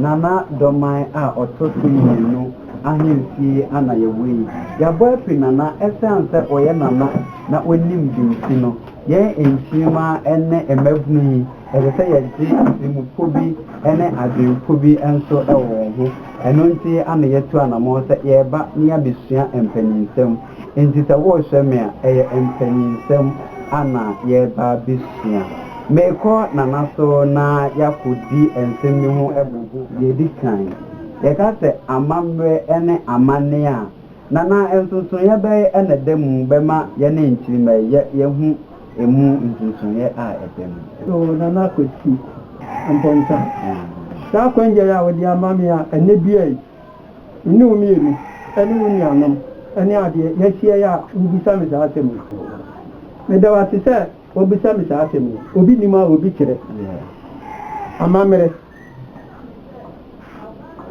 Nana Domain a ɔtɔ so mmienu. ahemfie a na yɛwɔ yi. Yɛabɔ apiri Nana ɛsiane sɛ ɔyɛ Nana na ɔnim de nti no, yɛn nkyirimma ne mmabunu yi, ɛsɛ sɛ yɛgye atirimpɔ bi ne adwenpɔ bi nso wɔ wɔn ho. Ɛno nti na yɛatu anammɔn sɛ yɛreba na yɛabɛsua mpanin nsɛm. Enti sɛ worehyɛ me a, ɛyɛ mpanyinsɛm na yɛreba abesua. Merekɔ Nana so na yɛakodi nsɛm bi ho abubu. Nea edi kan, yɛka sɛ amammerɛ ne amanne a, Nana nsonsonoeɛ bɛn na ɛda mu bɛma yɛne nkyirimma yi yɛahu emu nsonsonoeɛ a ɛda mu? So Nana Kwati Amponsah, saa kwangyare a wode ama me a ɛnnɛ dua yi, Me ne wo mmienu ne wo nuanom ne adeɛ yɛahyia yi a wobisa me saa asɛm yi. Meda wo ase sɛ wobisa me saa asɛm yi. Obi nim a obi kyerɛ. Amammerɛ,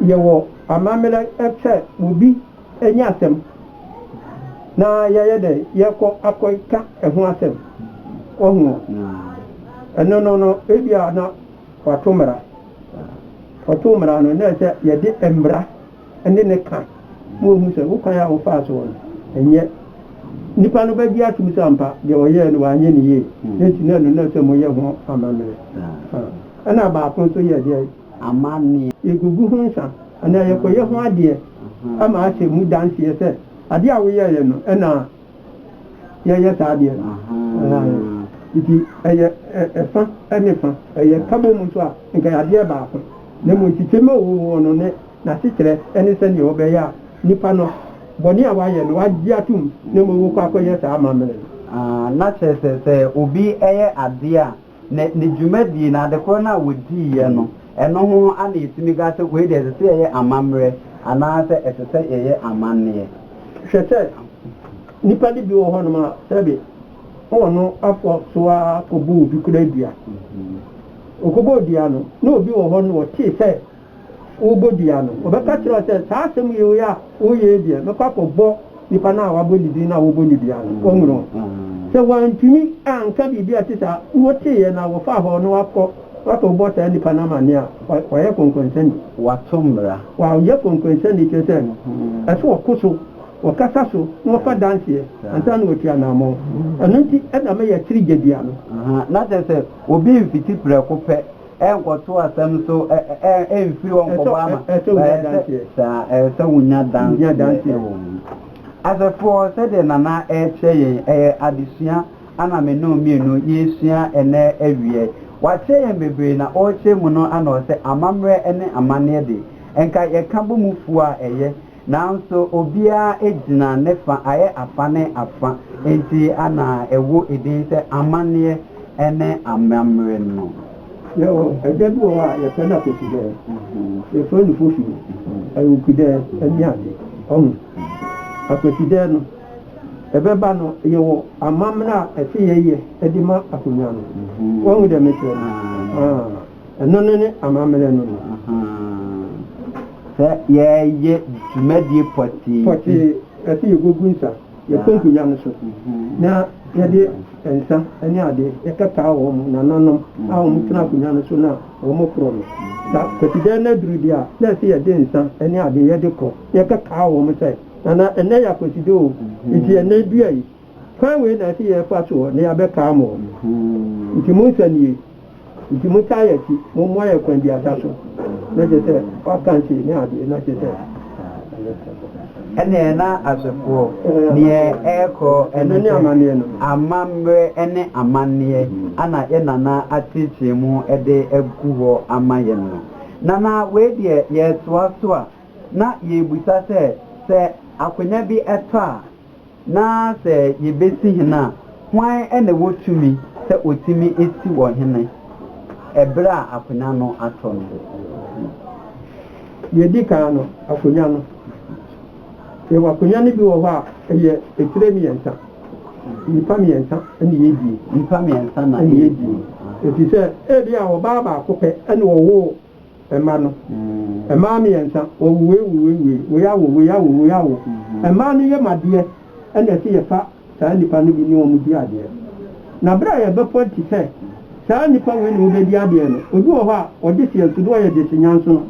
Yɛwɔ amammerɛ sɛ obi anya asɛm na yɛyɛ dɛn yɛkɔ akɔka ɛho asɛm. Wahu? Ɛno no no ebia na. Wɔato mmara. Wɔto mmara no na sɛ yɛde mmara ne no ka ma wɔhu sɛ wo kwan a wofaa so no ɛnyɛ nipa no bɛgye atom sɛ ampa deɛ ɔyɛɛ no wanyɛ no yie na nti na ɛno na sɛ moyɛ ho amammerɛ. Ɛna baako nso yɛ deɛ? Yɛgugu ho nsa anaa yɛkɔyɛ ho adeɛ ama ahyɛ mu danseɛ sɛ adeɛ a woyɛeɛ no ɛna yɛyɛ saa adeɛ no nti ɛyɛ ɛfa ne fa ɛyɛ kabɔ mu nso a nka adeɛ baako na mmom nkyekyɛm a ɔwɔ mu hɔ no ne n'asekyerɛ ne sɛdeɛ wɔbɛyɛ a nipa no bɔne a wayɛ no wagye atom na mmom wokɔ akɔyɛ saa amammerɛ no. Na kyerɛ sɛ sɛ obi yɛ adeɛ a. Ne ne dwumadie no, ade korɔ no a wɔdiiɛ no, ɛno ho a na yɛtumi ka sɛ wei deɛ ɛsɛ sɛ yɛyɛ amammerɛ anaasɛ ɛsɛ sɛ yɛyɛ amanneɛ. Hwɛ sɛ nnipa no bi wɔ hɔnom a sɛbe wɔ no afa so ara kɔbɔ obi koraa dua. Ɔkɔbɔɔ dua no, na obi wɔ hɔ no ɔtee sɛ wobodua no, wɔbɛka kyerɛ wo sɛ, Saa asɛm yi wei a woreyɛ yi deɛ, mɛkɔ akɔbɔ nipa no a wabɔ ne din no a wɔbɔ no dua no. Wɔnwene wo. Sɛ wɔantumi anka biribi a ɛte saa a woteeɛ na wɔfaa hɔ na woakɔ akɔbɔ saa nipa no amanneɛ a, wayɛ kɔnkɔnsani. Wato mmara. Wayɛ kɔnkɔnsani, kyerɛ sɛ, ɛsɛ wɔko so, wɔkasa so na wɔfa danseɛ ansa na wɔatu anammɔn. Ɛno nti na mɛyɛ akyiri gyadua no. Aha, na kyerɛ sɛ, obi mfiti prɛko pɛ. Ɛnkɔto asɛm so, ɛ, ɛ, ɛmfiri hɔ nkɔbɔ ama. Ɛsɛ, ɛsɛ wonya danseɛ. Saa, ɛsɛ wonya danseɛ. Wonya danseɛ wɔ ho. Asɛfoɔ, sɛdeɛ Nana ɛrekyerɛ yɛn, ɛyɛ adesua ana me ne wo mmienu yɛresua ɛnnɛ awia yi. Wakyerɛ yɛn bebree na ɔrekyerɛ mu no ana ɔsɛ, amammerɛ ne amanneɛ de, nka yɛka bɔ mu fua a ɛyɛ. Nanso obiara gyina ne fa ayɛ afa ne afa nti na ɛwɔ edin sɛ amanneɛ ne amammerɛ no. Yɛwɔ ɛda bi wɔ hɔ a yɛfrɛ no akwatudɛ, yɛfrɛ no fofi, awukudɛ ne ade. Wahu? Akwatudɛ no, ɛbɛba no, yɛwɔ amammerɛ a ɛsɛ yɛyɛ de ma akonnwa no. Wahu deɛ mekyerɛ no? Ahaa. Ɛno no ne amammerɛ no no. Sɛ yɛreyɛ dwumadie pɔtee bi. Pɔtee, ɛsɛ yɛgugu nsa, yɛkonku nnya no so, na yɛde nsa ne adeɛ yɛkata wɔn nananom a wɔtena akonnwa no so na wɔkorɔ no. Sɛ Kwasidan no aduru deɛ a, na ɛsɛ yɛde nsa ne adeɛ yɛde korɔ, yɛkata wɔn sɛ, Nana, ɛnnɛ yɛ Akwasidan o, nti ɛnnɛ dua yi, kwan wei na ɛsɛ yɛfa soɔ na yɛabɛka mo o, nti monsa nie. Nti motaa yɛ akyi mo mmoa yɛ kwan biasa so na kyerɛ sɛ w'aka nkyee ne adeɛ na kyerɛ sɛ ɛyɛ sɛ. Ɛneɛ na asefoɔ neɛ ɛrekɔ ɛne sɛ amammerɛ ɛne amanneɛ ana yɛ Nana ateekyee mo de agu hɔ ama yɛn no. Nana wei deɛ yɛretoa so a na yɛrebisa sɛ sɛ akonya bi ɛtɔ a. na sɛ yebesi hene a, hwan na ɛwɔ tumi sɛ otumi si wɔn hene bere a akonnwa no atɔ no? Nea edi kan no, akonnwa no. Yɛwɔ akonnwa no bi wɔ hɔ a, ɛyɛ atire mmiɛnsa. Nnipa mmiɛnsa na ɛredie. Nnipa mmiɛnsa na ɛredie. Efisɛ ebia ɔbaa baako pɛ na ɔwoo mma no. Mmaa mmiɛnsa, wɔwuweiwuweiwuwei, woyawo, woyawo, woyawo. Mmaa no yam adeɛ, ɛna ɛsɛ yɛfa saa nnipa no bi ne wɔn di adeɛ. Na berɛ a yɛbɛpɔnte sɛ saa nnipa wei ne wobɛdi adeɛ no, obi wɔ hɔ a, ɔgye seɛ nso, na ɔyɛ gyesenyansono.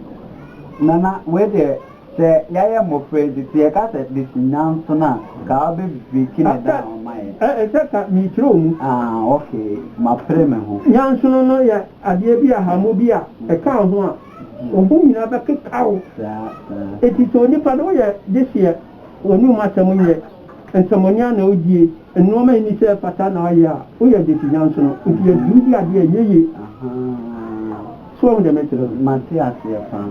Nana, wei deɛ, Sɛ yɛayɛ mmofra yi dze, sɛ yɛka sɛ this nyan so no a, nka ɔbɛ breaki ne down ama yɛn. After, eh, ɛsɛ ka merekyerɛw mu. Ah, ok, mapere me ho. Nyansono no yɛ adeɛ bi a hamo bi a ɛka wo ho a wo ho nyinaa bɛkeka wo. Saa, saa. Enti sɛ onipa no woyɛ de hyeɛ w'anum asɛm nyɛ. Nsɛmmɔne a na odie, nnoɔma a enni sɛ ɛfata na ɔyɛ a, woyɛ de si nyanso no. Nti yɛ duru di adeɛ a ɛnyɛ yie. So woahu deɛ merekyerɛ no? Mate aseɛ paa.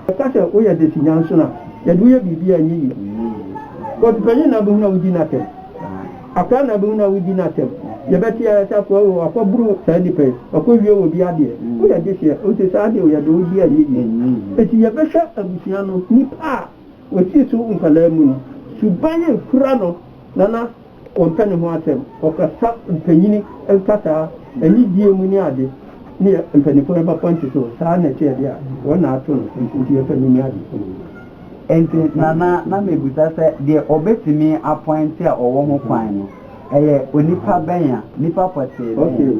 Ɛka sɛ woyɛ de si nyanso no a, yɛ de woyɛ biribi a ɛnyɛ yie. Kɔɔto panyin na abɛhunu a wodi no atɛm. Akoa na abɛhunu a wodi no atɛm. Yɛbɛte ara sɛ akoa wei wakɔboro saa nnipa yi, wakɔwie wɔn bi adeɛ. Woyɛ de seɛ. Nti saa deɛ yɛ de wodi a ɛnyɛ yie. Nti yɛbɛhwɛ abusua no, nnipa a. Wɔatutu nkwadaa mu no, suban a ɛkura no na na ɔmpɛ ne ho asɛm. Ɔkasa mpanyini nkasaa, anidie mu ne ade, ne mpaninfoɔ no bɛfa nti so. Saa na ɛteɛ deɛ a, wɔn na ato no nti yɛpɛ no ne adesuo. Nti Nana na mebisa sɛ deɛ ɔbɛtumi apɔinte a ɔwɔ ho kwan no, ɛyɛ onipa bɛn a, nipa pɔtee bɛn? Okay,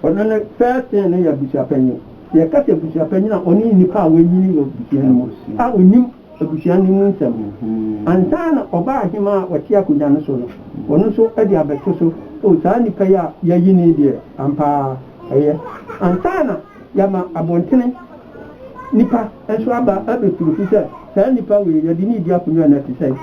ɔno no first thing no yɛ abusuapanyin. Sɛ yɛka sɛ abusuapanyin a, ɔno ne nipa a wanyin wɔ abusua no mu a onim abusua no mu nsɛm. Ansa na ɔbaa aheman a ɔte akonnwa no so no, ɔno nso de abɛto so, O, saa nipa yi a yɛayi no yi deɛ, ampa ara, ɛyɛ ansa na yɛama abɔntene nipa. nso aba abɛturu so sɛ saa nnipa wei yɛde no redi akonnwa nnɛ te sɛn?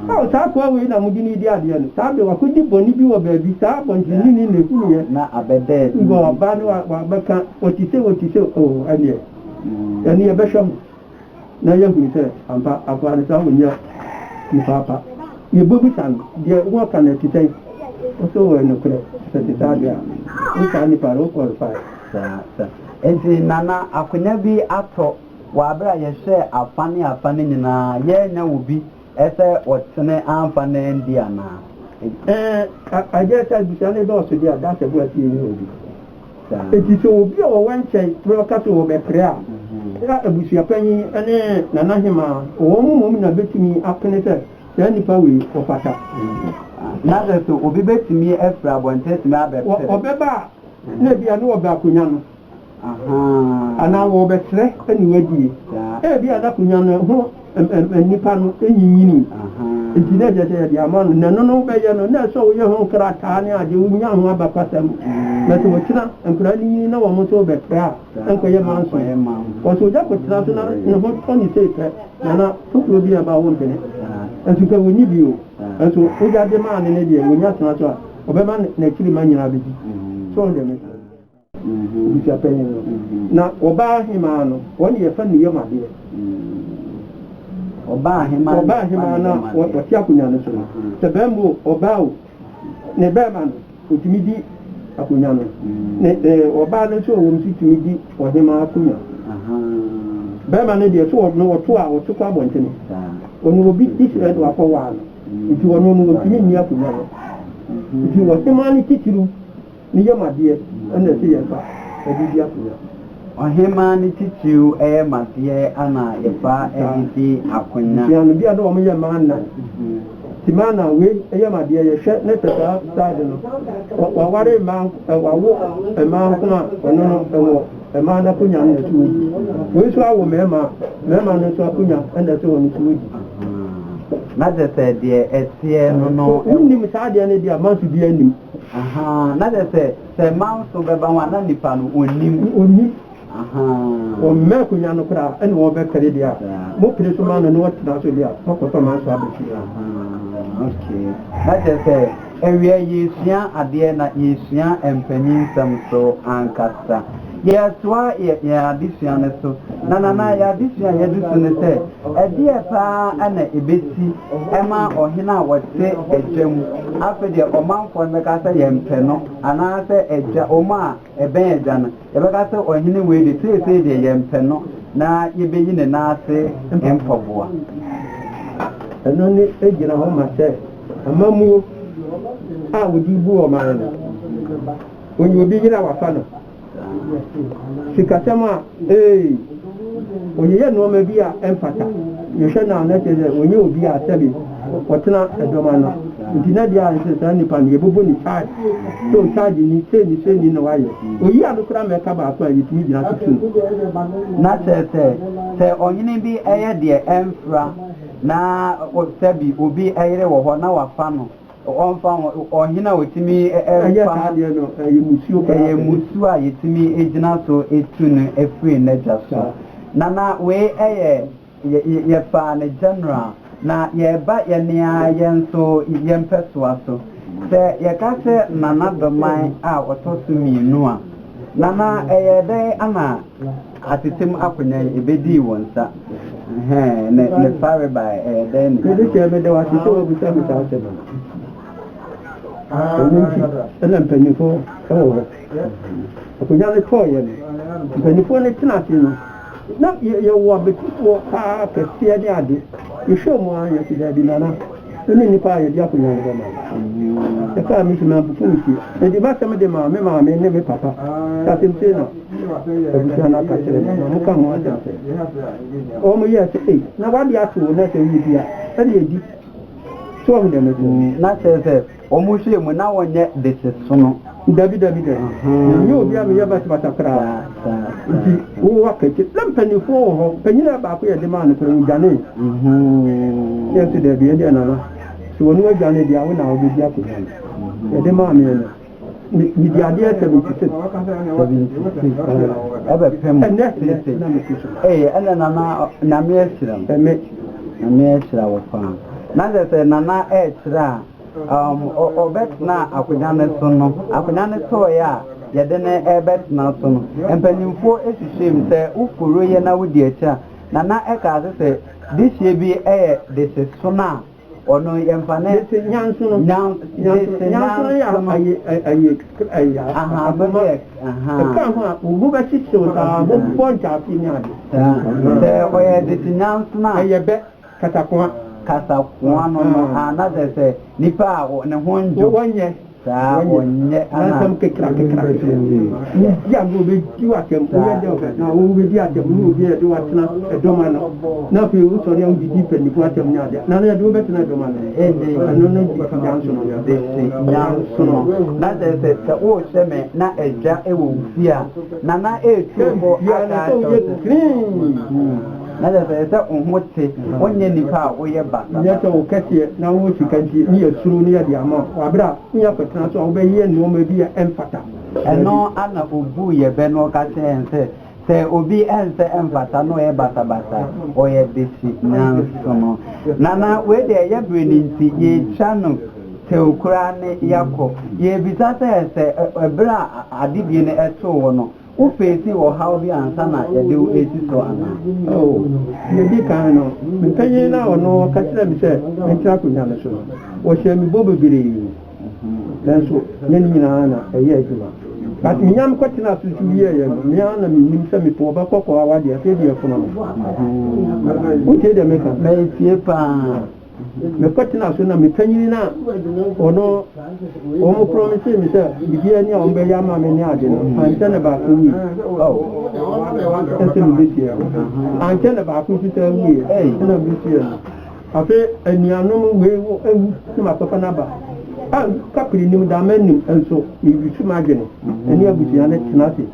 Oh, saa akoa wei na mode no redi adeɛ no saa bere wakɔdi bɔne bi wɔ baabi, saa abɔnteneni na ɛhunuiɛ na ɔba no wabɛka ɔte sei ɔte sei, oh, ɛnneɛ ɛno yɛbɛhwɛ ho na yɛahunu sɛ ampa akoa no saa ɔnyɛ nipa pa. Yɛbɛbisa no deɛ wɔka no ɛte sɛn? Ɔsɛ ɔwɔ nokorɛ, sɛ ɛte saa deɛ a wo saa nnipa no wo qualify. Enti na na akonya bi atɔ wɔ bere a yɛhwɛɛ afã ne afã no nyinaa a yɛannya wɔ bi sɛ wɔtene amfa no andi anaa? Ɛɛ, ɛyɛ sɛ abusua no dɔɔso de, Adansefo pii nni hɔ bi. Enti sɛ obi a ɔwɔ nkyɛe bere a ɔka sɛ ɔbɛpere a, na abusuapanyin ne Nana Hemaa, wɔn mmom na betumi apene sɛ saa nipa wei ɔfata. Na sɛ so obi betumi afiri abɔnten atumi abɛpere? Ɔbɛba a, na ebia na wɔbɛ akonnwa no anaa wɔrebɛsrɛ ne wadie. Ebia na akonnwa no ho nnipa no nyinyinii, nti na ɛsɛ sɛ yɛde ama no. Na ɛno no wobɛyɛ no, na ɛsɛ sɛ woyɛ ho nkrataa ne ade, wonya ho abakɔsɛm. Na sɛ wɔkyina nkwadaa no nyini na wɔn nso rebɛpra a, ɛnkɔyɛ manso. Kɔ so ogya kɔtena so na ne ho tɔ ne sei pɛ, na na foforɔ bi reba a wompene. Nso nka wɔnni bio. Nso wogya de maa no no deɛ, wɔnya tena so a, Ɔbɛma n'akyiri mma nyinaa bɛdi. So wɔn deɛ meka no. Abusua panyin no. Na ɔbaa hemaa no, wɔn deɛ yɛfa ne yam adeɛ. Ɔbaa hemaa na ɔte akonnwa no so no, sɛ barima o, ɔbaa o, ne barima no, ɔtumi di akonnwa no. Ne ɔbaa no nso a ɔwɔ mu nso tumi di ɔhemaa akonnwa. Barima no deɛ, sɛ ɔno ɔto a, ɔto kɔ abɔntene. Ɔno obi Israel na wakɔwaa no. nti wɔno no wɔntumi nni akonwa no nti wɔhemaa no titiriw no yam adeɛ ɛna ɛsɛ yɛfa ɛde di akonwa. Ɔhemaa no titiriw yam adeɛ ɛna yɛfa ɛde di akonwa. Nti ano bi a na wɔn yɛ maana nti maana wei yam adeɛ yɛhwɛ na sɛ saa side no waware mmaa wawo mmaa nko a ɔno no ɛwɔ. Mmaa no akonya na ɛso wɔdi. Wei nso awo mmarima a, mmarima no nso akonya na ɛsɛ wɔn nso wɔdi. Na kyerɛ sɛ deɛ ɛteɛ no no. So wonim saa adeɛ no deɛ a, manso biara nnim. Ahaa, na kyerɛ sɛ, sɛ manso bɛba ho a, na nipa no ɔnnim. Ɔnnim. Ahaa. Ɔmma akonya no koraa, ɛna wɔbɛpere deɛ a, mopere nso ma no na ɔtena so deɛ a, moakɔtɔ manso aba fie. Ahaa, okay. Na kyerɛ sɛ. Awiei yɛresua adeɛ na yɛresua mpaninnsɛm so ankasa. Yɛretoa yɛn adesua no so na Nana yɛn adesua a yɛadu so ne sɛ ɛdeɛn paa na ɛbɛsi ma ɔhene a ɔte agya mu. Afei deɛ ɔmanfoɔ no bɛka sɛ yɛmpɛ no anaasɛ agya wɔn a Ɛbɛn agya no. Yɛbɛka sɛ ɔhene wei de, seesei deɛ yɛmpɛ no na yɛbɛyi ne nan ase mpaboa. Ɛno ne ɛgyina hɔ ma sɛ amammuo a wɔde bu ɔman no, wɔnya obi yere a wɔafa no. Sikasɛm a. Ee, ɔyeyɛ nnoɔma bi a ɛmfata. Yɛhwɛ no a, na kyerɛ sɛ ɔnyɛ obi a sɛbe ɔtena dɔm ano. Nti na deɛ a nso saa nipa no yɛbɛbɔ no charge sɛ ɔcharge ni, sei ni sei ni na wayɛ. Ɔyi ano koraa ma ɛka baako a, yɛtumi gyina so tu no. Na kyerɛ sɛ, sɛ ɔhene bi yɛ deɛ ɛmfra na sɛbe obi yere wɔ hɔ na wafa no, Ɔmfa ho, ɔhene a otumi fa no deɛ no, ɛyɛ mmusuo koraa. Ɛyɛ mmusuo a yɛtumi gyina so tu no firi n'agya so. Na na wei yɛ, yɛfaa no general, na yɛreba yɛn ara yɛn nso yɛn mpɛsoa so. Sɛ yɛka sɛ Nana Doman a ɔtɔ so mmienu a, Nana, ɛyɛɛ dɛn na. Atetemu akonya yi, ebedii wɔn nsa. Ɛhɛɛ, ne, ne fareba ɛ, ɛyɛ dɛn ne. Mede kyerɛ, mede wo ase sɛ woabisa me saa asɛm no. Ɛno nti, ɛna mpanimfoɔ wɔ hɔ. Akonya no tɔɔeɛ no, mpanimfoɔ no tena ase no, na yɛ, yɛwɔ abatifoɔ paa kɛseɛ ne ade. Yɛhwɛɛ wɔn ara, yɛse, Daabi, Nana. Ɛne nnipa a yɛde akonnwa bɛma no. Ɛkaa me su na abufuw me sie. Enti m'asɛm de maa me maame ne me papa. Sɛ asɛm sei na abusua no aka kyerɛ me na moka ho asɛm sɛ wɔyɛɛ sɛ, Ei, na w'ade akye wo na sɛ woredi a, ɛnde di. So woahu deɛ mete no? Wɔhwɛɛ mu na wɔnyɛ desesono. Dabi, dabi, dabi. Menyɛ obi a meyɛ basabasa koraa. Enti wo wakati. Na mpanimfoɔ wɔ hɔ. Panyin a baako yɛ den maa no pɛ, ɔdwanee. Yɛn nso dabi, yɛn deɛ Nana, sɛ ɔno adwane deɛ a, wo na wobɛdi akonnwa no. Yɛde maa me no, medi adeɛ 76. Ɛbɛpem seesei. Ee, ɛnna Nana, Nyame ahyira wo. Amen. Nyame ahyira wo paa. Na kyerɛ sɛ Nana rekyerɛ a, um, ɔ, ɔbɛtenaa akonnwa no so no, akonnwa no tɔɔe a yɛde no rebɛtena so no, mpanyimfoɔ hwehwɛɛm sɛ woforo yɛ na wodi akyi a, na na ɛka ase sɛ dehyeɛ bi yɛ dehye sono a ɔno yɛmfa ne. Dehye nyansono. Nyan, dehye nyansono. Nyansono yɛ ayi, ayi, aha, bɛbɛ yɛ, aha. Ɛka ho a, obu bɛhyehyew saa, bɛbɔ ntaase ne ade. Saa, sɛ ɔyɛ dehye nyansono a. Ɛyɛ bɛ. Kasakoa. Kasakoa no no a na kyerɛ sɛ nipa a ne ho ndwo. Wɔnyɛ. Saa wɔnyɛ ana. Nansɛm kekra kekra kekra. Wodi agorɔ obedi w'atɛm. Woyɛ dɛ ɔbɛ na wobedi atɛm ne obi a yɛde wo atena ɛdɔm ano na afei wosɔre a wodidi mpanyinfoɔ atɛm ne adeɛ na na yɛde wo bɛtena ɛdɔm ano ɛne ɛno na gye si nyansono no. Gye si nyansono na kyerɛ sɛ sɛ worehyɛ me na adwa ɛwɔ wo fie a nana ɛretu wo kɔ aka akyɛw sɛ. Na kyerɛ sɛ ɛsɛ sɛ wo ho te, wonyɛ nipa a woyɛ basabasa. Nyɛ sɛ wo kɛseɛ na wo ho sika nti ne yɛsuro ne yɛde ama wo. Wɔ berɛ a ne yɛakɔtena so a wobɛyɛ nnoɔma bi a ɛmfata. Ɛno ara na ɔbuu yɛn bɛ na ɔka kyerɛɛ yɛn sɛ, Sɛ obi ɛnsɛ ɛmfata na ɔyɛ basabasa a, ɔyɛ bese. Nanso no, Nana, wei deɛ ɛyɛ berɛ no nti, yɛretwa no tew koraa ne yɛakɔ. Yɛrebisa sɛ, sɛ berɛ a adedie no too wo no, Wofeesii ɔhaw bi ansa na yɛde wo resi so anaa? Oo. Nea edi kan no, me panyin no a ɔno ka kyerɛɛ me sɛ mentena akonnwa no so no, ɔhyɛɛ me bɔ bebree. Nanso nyɛ ne nyinaa na ɛyɛɛ adwuma. But minya me kɔtenaa so nso wieeɛ no, me ara na minnim sɛ mepoo ɔba kɔkɔɔ a wadi afe abiɛsa no. Wotie deɛ meka no? Metie paa. mekɔtenaa so na me panyin no a ɔno wɔn promise me sɛ biribiara ni a wɔn bɛyɛ ama me ne ade no ankyɛ na baako wui ɛsɛ mebetua ankyɛ na baako nso sɛ wui ɛna mebetua no afei anuanom wei wo ewu na makɔfa no aba a kapiri nim dama nim nso mebisu m'adwene ɛne abusua no tena ase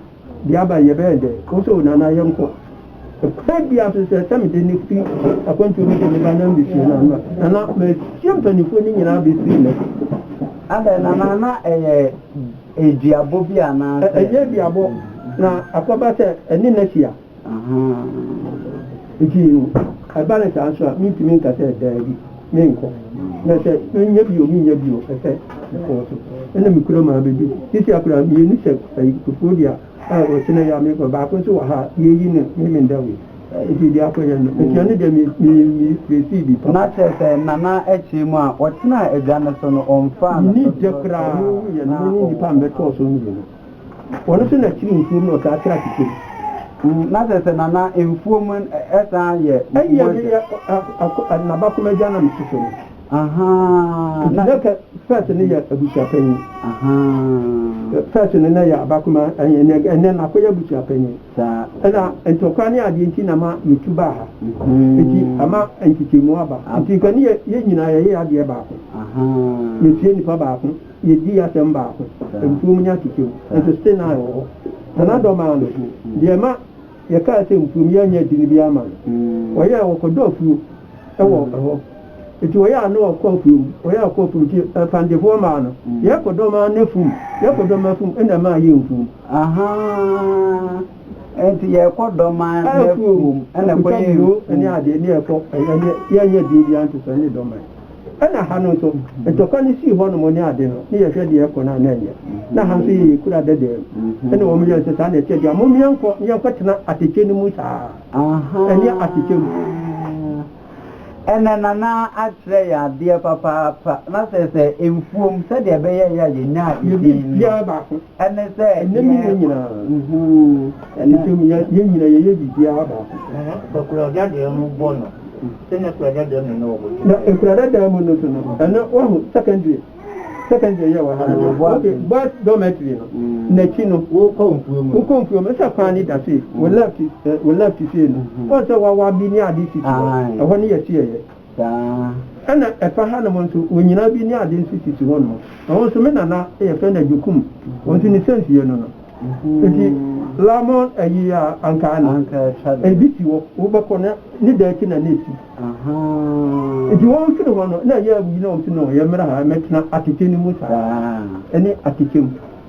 de aba yɛ bɛyɛ dɛ wo so nana yɛ nkɔ ɛkwan bia so sɛ sɛ mede ne firi akwantuo mu de ne ba na mbɛsua no ano nana mahyia mpanimfoɔ no nyinaa bɛsii nɛ Adɛn nana na ɛyɛ ɛduabɔ bi anaasɛ. Ɛnyɛ duabɔ na akɔba sɛ ɛne no ahyia. Ahaa. Nti ɛba no saa nso a, mentumi nka sɛ daabi, menkɔ. Na sɛ menya bi o, mennya bi o, ɛsɛ mekɔ so. Ɛna me kurom ara bɛdi. Seesei a koraa mmienu sɛ Kofoɔ di a, a ɔkyena yi a mekɔ, baako nso wɔ ha a, yɛreyi no ne Mendawe. Nti deɛ akɔyɛ no, atua no deɛ mefeesii bi papa. Na kyerɛ sɛ Nana kyerɛ mu a, ɔtenaa adwa no so no, ɔmfaa no so so sɛ. Menni dɛ koraa a, na ɔwɔ hɔ. Menni dɛ koraa a, na ɔwɔ hɔ. Nnipa a mebɛtɔɔ so mmienu. Ɔno nso na kyiri mfuom na ɔtaa tra tete mu. Na sɛ sɛ na na mfuom ɛsan yɛ mfuom agya. Ɛyɛ me yɛ nabakoma agya na me soso no. Ahaa. Nti na kɛ fɛs no yɛ abusua panyin. Ahaa. Fɛs no na yɛ abakoma ɛnɛ ɛnɛ na kɔ yɛ abusua panyin. Saa. Ɛna ntɔkwa ne adeɛ nti na ma yɛ tu baa ha. Nti ama nkyekyɛmu aba. Nti nka ne yɛ yɛ nyinaa yɛ yɛ adeɛ baako. Ahaa. Yɛ sie nipa baako. Yedii asɛm baako, mfuom nyɛ asekyɛm, nanso still nine wɔ hɔ. Na n'adɔ maa no deɛ ɛma yɛkaa sɛ mfuom yɛ nyɛ den biara ma no. Wɔyɛɛ, wɔkɔdɔ afuo wɔ hɔ. Enti wɔyɛɛ a na ɔkɔ afuom, wɔyɛɛ a ɔkɔ afuom, enti ɛfandefoɔ maa no. Yɛkɔdɔ maa no afuom, yɛkɔdɔ maa afuom ɛna ɛmaa yɛɛ mfuom. Ahaa, enti yɛkɔdɔ maa no afuom ɛna ɛkɔyɛɛ mfuom. Ɛkɔtwa buro ne adeɛ ne ɛkɔ, ɛnyɛ, yɛnyɛ den biara nto so, ɛne dɔ mae. Ɛna ha no nso ntɔkwa no sii hɔ nom ne ade no ne yɛ hwɛ deɛ ɛkɔ no a na ɛnyɛ na ha nso yɛ yɛ kura dɛdɛɛ mu ɛna wɔn yɛ nso saa na ɛkyɛ dua mom yɛnkɔ ne yɛnkɔ tena atɛkyɛ no mu saa ɛneɛ atɛkyɛ mu. Ɛnɛ Nana akyerɛ yɛn adeɛ papaapa na sɛ sɛ mfuom sɛdeɛ ɛbɛyɛeɛ a yɛnyaa edin no. Ɛnnɛ me yɛ nyina nhuu Ntem yɛ nyina yɛyɛ biribiara baako pɛ Na Akuradadaɛ mu bɔ no Sɛnea Akuradadaɛ mu no ɔbɔ Na Akuradadaɛ mu no nso no Ɛno wahu secondary Secondary yɛ wɔ ha no Ok boys dormitory no Nakyi no wokɔ mfuo mu no Wokɔ mfuo mu Sɛ kwan no da sei Wo left Wo left sei no Woahu sɛ wawabi ne ade sisi hɔ Ɛhɔ ne yɛhyeɛɛ yɛ. saa. Ɛna ɛfa hanom nso, wɔ nyina bi ne ade nso sisi hɔ nom. Ɛhɔ nso, me nana yɛfrɛ no Agyekum, wɔ nso ne sense yɛ no no. Nti lamon ayi a anka ano, ɛbi si hɔ, wo bɛkɔ no ne da akyi na na ɛsi. Nti wɔ mfiri hɔ no, na ɛyɛ a wɔ yi na wɔ mfiri no, yɛ mmra ha, mɛtena atɛkyɛ no mu saa, ɛne atɛkyɛ mu.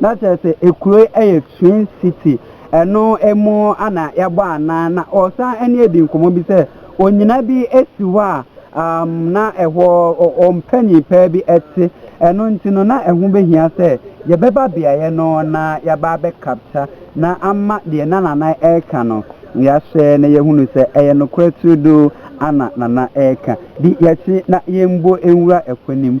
Na kyerɛ sɛ ekuro yi yɛ twin city ɛno mu na yɛbɔ anaa na ɔsan ɛne edi nkɔmɔ bi sɛ onyina bi esi hɔ a umm na ɛhɔ ɔmpanyin paa bi ɛte ɛno nti no na ɛho behia sɛ yɛbɛba beaeɛ no na yɛaba abɛ capture na ama deɛ na nana ɛreka no yɛahwɛ na yɛhunu sɛ ɛyɛ nokorɛ turodoo ana nana ɛreka di yɛkye na yɛmbo nwura ɛkɔ nim.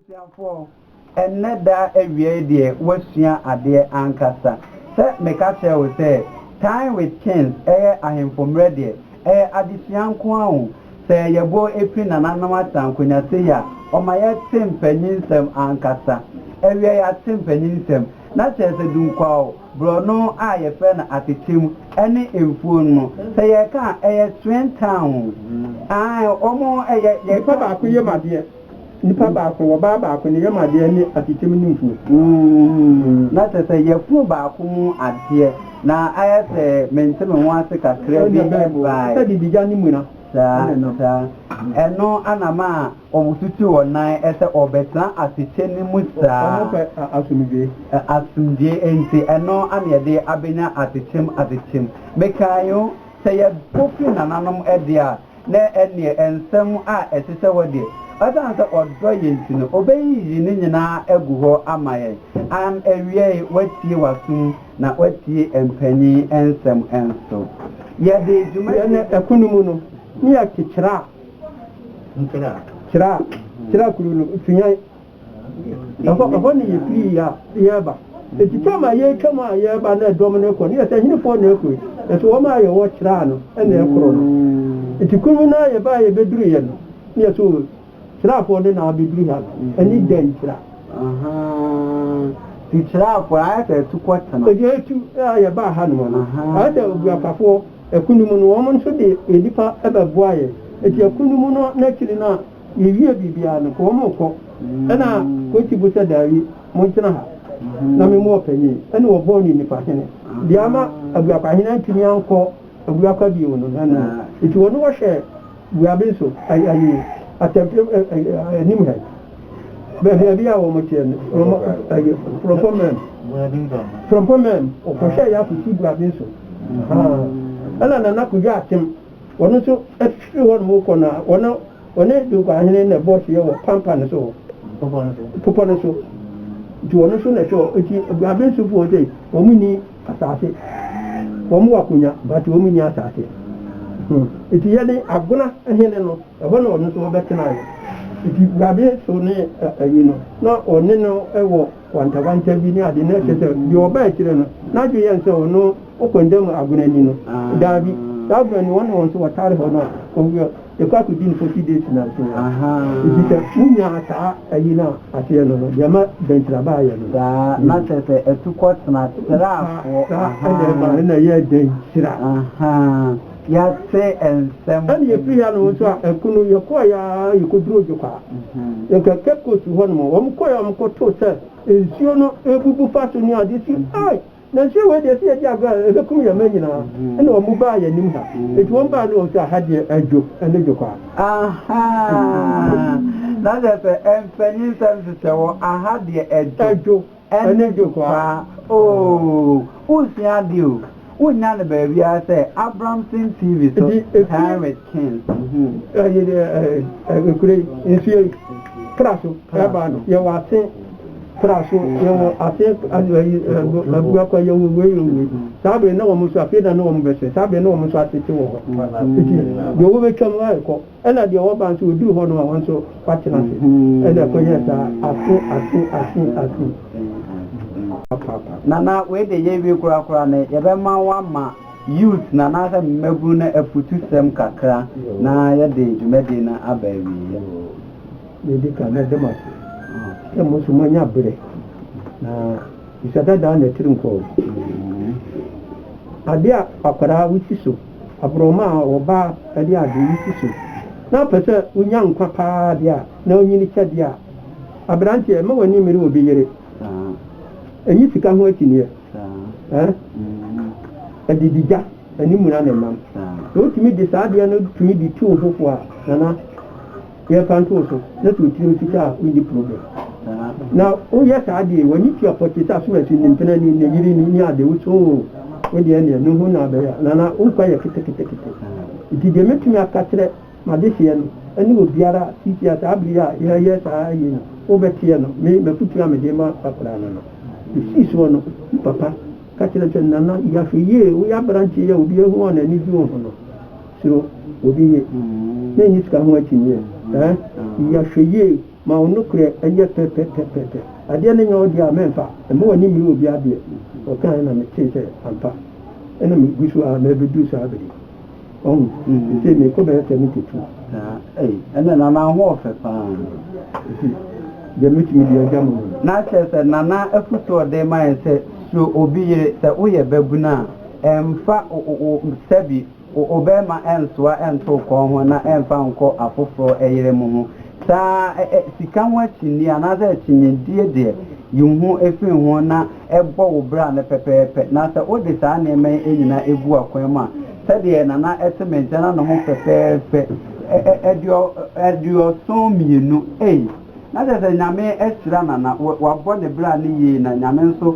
Abusuafoɔ, ɛnnɛ da awia yi deɛ woasua adeɛ ankasa. Sɛ meka kyerɛ wo sɛ Time with Kings yɛ Ahemfo Mmerɛ deɛ, ɛyɛ adesua nko ara o. Sɛ yɛbɔ firi Nananom Asankunya sei a, ɔma yɛte mpaninnsɛm ankasa. Ɛwiɛ yɛate mpaninnsɛm. Na kyerɛ sɛ dunkwaa o, borɔno a yɛfrɛ no atetem ne mfuo no, sɛ yɛreka a, ɛyɛ Swen Town o. Aane, wɔn yɛ, yɛka. Nipa baako yam adeɛ. Nipa baako, wɔ ɔbaa baako, ne yam adeɛ ne asikyem ne mfuo. Mm, na kyerɛ sɛ yafunu baako mu adeɛ, na ayɛ sɛ mente me ho ase kakra bi ɛbae. Sɛ bibigya ne muna. Saa, saa. Ɛno ana ma wɔtutu wɔn nan sɛ wɔbɛtena asekyɛ no mu saa. Wɔpɛ asomdwoe. Asomdwoe, enti ɛno ana yɛde abɛnya asekyem, asekyem. Mekae o, sɛ yɛpo firi nananom de a, na ɛnneɛ nsɛm a ɛhyehyɛ hɔ deɛ, ɔsiane sɛ ɔdɔ yɛn nti no, ɔbɛyiyi ne nyinaa agu hɔ ama yɛn. Am awiei, watie w'asom na watie mpanyin nsɛm nso. Yɛde dwuma. Yɛn ɛko no mu no, Mia te kyerɛ a kyerɛ a kyerɛ a kuro no, Suyan Ɛhɔ, ɛhɔ na yɛfirii a yɛreba. Enti twam a yɛretwam a yɛreba na ɛdɔm no rekɔ no, yɛ sɛ ahenefoɔ na ɛrekɔ yi. Nanso wɔn a yɛwɔ kyerɛa no na ɛrekorɔ no. Enti kuro mu no ara yɛbaeɛ a yɛbɛduruiɛ no, na yɛse o, kyerɛafoɔ no na abɛduru ha no, ɛne dɛn kyerɛ a. Ahaa, nti kyerɛafoɔ no, ayɛ sɛ atukɔ tema. Enti ɛtu a yɛbaa hanom no, ayɛ sɛ obuafafoɔ, ɛko no mu no, wɔn nso de nnipa bɛboa yɛn. Enti ɛko no mu no, n'akyiri no a. Yewie biribiara no, ka wɔn rekɔ. Ɛnna Kosi bu sɛ, Daabi, montena ha na me mu ɔpanyin ne wɔbɔɔ no nnipa hene. Deɛ ama Abuakwahene antumi ankɔ Abuakwa bio no, ɛno no. Enti wɔne wɔ hwɛɛ Buaben so, ayi, Atɛmpere anim ha yi, baabi a wɔteɛ no, ayi, Frɔmpɔn Mɛm, Frɔmpɔn Mɛm, wɔkɔhwɛɛ yɛ akosi Buaben so, ahaa. Ɛnna Nana Kodwo Atem. Wɔn nso firi hɔnom rekɔ no, wɔn a wɔne Dunkuahene na ɛbɔɔ hyeɛ wɔ pampa no so, bepɔ no so, nti wɔn nso na ɛhwɛ wɔn. Nti Abensufoɔ sɛ wɔn nni asase, wɔn wɔ akonya but wɔn nni asase. Hmm. Nti yɛne Agona hene no, ɛhɔ na wɔn nso wɔbɛtenaeɛ. Nti Abensu ne ayi no, na wɔne no wɔ. Wantawanta bi ne ade na kyerɛ sɛ deɛ ɔba akyire no n'adwene yɛ no sɛ ɔno ɔkɔnda mu agona ni no. Daabi, saa agona ni wɔn ne wɔn nso wɔtare hɔ no a wɔwɔ ɛkɔ akɔdi no forty days nam so hɔ. Nti sɛ wonyaa saa ayi no a aseɛ no no deɛ ɛma bɛntira ba ayɛ no. Saa, na kyerɛ sɛ atukɔ tena tirafoɔ. Saa, saa ɛna ɛma ɛna ɛyɛ dɛntira. Yɛate nsɛm wɔ. Ɛna yɛfiri ha no nso a ɛko no yɛkɔɔeɛ ara yɛkɔduruu Dwokwaa. Nka Cape Coast hɔ nom. Wɔn kɔɔeɛ a wɔn kɔtoo sɛ nsuo no rebubu fa so ne adeɛ si ai na nsuo wei deɛ sɛ yɛdi agorɔ a ɛbɛkum yɛn mma nyinaa. Ɛna wɔn baa yɛn anim ha. Nti wɔn baa no wɔn sɛ aha deɛ adwo ɛne Dwokwaa. Ahaa na kyerɛ sɛ mpanyin nsɛm hyehyɛ wɔn aha deɛ adwo. Ɛne dekwaa ooh. Wonsua ade o, wonnya no baabiara sɛ Abramson TV so Time with King. Ɛyi deɛ nokorɛ yi, nsuo yi, pra so ɛba no, yɛwɔ ase pra so, yɛwɔ ase abuakwa, yɛwɔ wei, yɛwɔ wei. Saa berɛ yi na wɔn nso, afei na na wɔn bɛsrɛ, saa berɛ yi na wɔn nso atete wɔ hɔ. Nti deɛ wɔbɛtwam arekɔ. Ɛna deɛ wɔba nso wɔduru hɔ nom a wɔn nso wɔatena ase. Ɛna ɛkɔyɛɛ saa afe afe afe afe papaapa. Nana wei de yɛwie koraa koraa no yɛbɛma woama youth no anaasɛ mmabunu no afutusɛm kakra na yɛde dwumadie no aba awieɛ. Deɛ ɛdi kan mede mo ase sɛ mo nso moanya berɛ na bisa dadaa na atirimpɔw. Adeɛ a akwadaa wosi so. aborɔnoma a ɔba de ade yi si so na ɔpɛ sɛ onya nkwa paa de a, na onyin kyɛde a. Aberanteɛ, mma w'ani mmere obi yere. Nyi sika ho akyinnyeɛ. Ɛde di gya, ɛne muna na ɛnam. Sɛ wotumi de saa adeɛ no tumi de tu wo ho fo a, Nana. Yɛ fa nto so na to tirim sika a wonni problem. Na wo yɛ saa deɛ w'ani tua pɔte sɛ asomasi ne mpena ni ne yere ni ne ade wo so oo wo deɛ neɛ ne ho na abɛyɛ a nana wo nkwa yɛ keteketekete. Nti deɛ mɛtumi aka kyerɛ m'adehyeɛ no ɛne obiara a sisi a saa bere yi a yɛyɛ saa yei no wo bɛteɛ no me m'afutuo a mede ma akwadaa no no. Ɔsii soɔ no ne papa ka kyerɛ no sɛ nana yɛ ahwɛ yie wo yɛ aberanteɛ yi a obiara hu wo a n'ani gye wo ho no Suro obi yie. Na nni sika ho akyinnyeɛ. Ɛɛ, yi ahwɛyie ma wo nokorɛ nyɛ pɛ pɛ pɛ pɛ pɛ. Adeɛ no nyɛ wo deɛ a, mɛmfa. Mma w'ani mmere obi adeɛ. Ɔkaeɛ na metee sɛ ampa. Ɛna megu so ara mɛbɛduru saa bere yi. Wahu? Seesei merekɔ bɛyɛ seventy two. Saa. Ei, ɛnneɛ Nana wo ho yɛ fɛ pa ara. Enti, deɛ mɛtumi de agya mo no. Na kyerɛ sɛ, Nana afotuo a ɔde rema yɛn sɛ, Suro obi yere. Sɛ woyɛ babunu a, ɛmfa wo wo wo sɛbi. Wo obarima nsoa nto wo kɔn ho na mfa nkɔ afoforɔ yere mu ho saa. Sika ho akyinnye anaasɛ akyinnyedie deɛ, yi wo ho firi ho na bɔ wo bra no pɛpɛɛpɛ. Na sɛ wode saa nneɛma yi nyinaa gu akwan mu a, sɛdeɛ Nana te me nkyɛn na ne ho fɛfɛɛfɛ, aduɔson mmienu, ei! Na kyerɛ sɛ Nyame ahyira Nana, wabɔ ne bra no yie na Nyame nso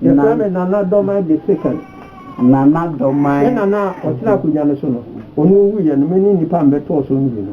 Yɛfrɛ me Nana Dorman De Sekan. Nana Dorman. Me nana a ɔtena akonnwa no so no, ɔno owuiɛ no, me ne nnipa a mebɛtɔɔ so no bi no.